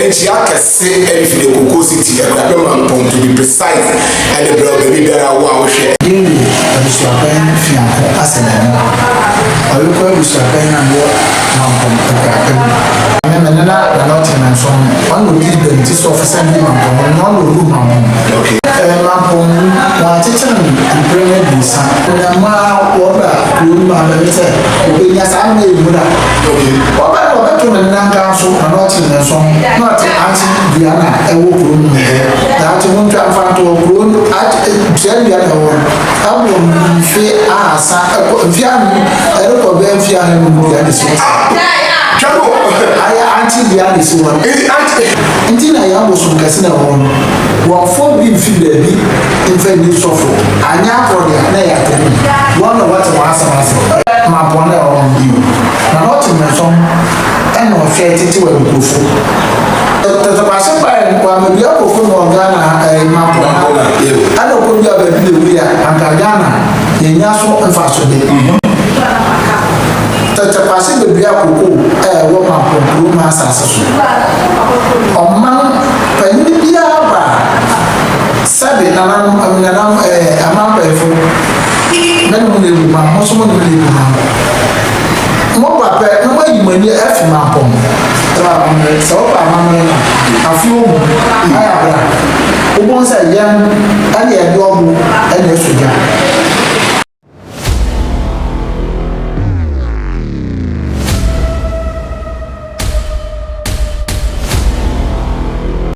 Nkyia kɛse ɛne fi de koko si ti ɛkura bɛ ma mpɔn to be precise ɛne brɛ ɔbɛbi biara awo a wohwɛ. Yɛnni abusuabɛn fiako asɛm ɛno ɔyɔkɔ abusuabɛn na wɔ ma mpɔn ɛkura bɛ mu. Me me nena na na ɔte nanso ɔno ɔna ɔdi bɛn ti so ɔfesa bi ma mpɔn ɔno ɔna ɔwu ma mpɔn. Ɛɛ ma mpɔn wu wɔn akyekyere no mpere no abiesa. Onyama wɔ bra kuro mu abɛn sɛ. Obenya saa no na yɛ nwura. Ɔba no ɔbɛto ne nna nka so na na ɔte ne nso na ɔte akye dua no a ɛwɔ kuro no mu hɛ. Na akye ho ntwa mfanto wɔ kuro no akye tua dua na ɛwɔ no. Ɛwɔ mfe ahasa ɛkɔ mfe anum ɛrekɔ bɛyɛ mfe ahanum dua ne si. Twɛbo. Ayɛ akye dua ne si wɔn. Eti akye. Nti na yɛ abosom kɛse na ɛwɔ no. Wɔmfɔ bi mfi baabi mfa nni sɔfo. Anyɛ akɔde a na ɛyɛ atɛm. Wɔn na wɔte wɔn asa. Ɔkaa sɛ, Hwɛ mapɔn a ɛwɔ hɔ no bio, na na ɔte mmɛnsɔm na ɔhwɛ tete wɔ nkurɔfo. Tɛtɛbase baeɛ no, wammɛdua nkurɔfo no wɔ Ghana ha ɛyi mapɔn ha, ɛna ɔkɔdua baabi na ɛwui a, anka Ghana yɛnnya so mfasode. Tɛtɛbase bɛdua koko a ɛwɔ mapɔn kuro no asase so. Ɔman panin biara baa. Sɛbi, nananom, anuanamfo, ɛɛ, amampɛyɛfo, me ne mo nyɛ adwuma, mo nso mo ne me nyɛ adwuma. Mo ba pɛ na moayi mo ani afi mampɔn. Sɛ woaba amammerɛ, sɛ woba amammerɛ a, afe o mu, ayɛ abere a, wobɛhu sɛ yɛn ne yɛde ɔbo na ɛsɔ gya.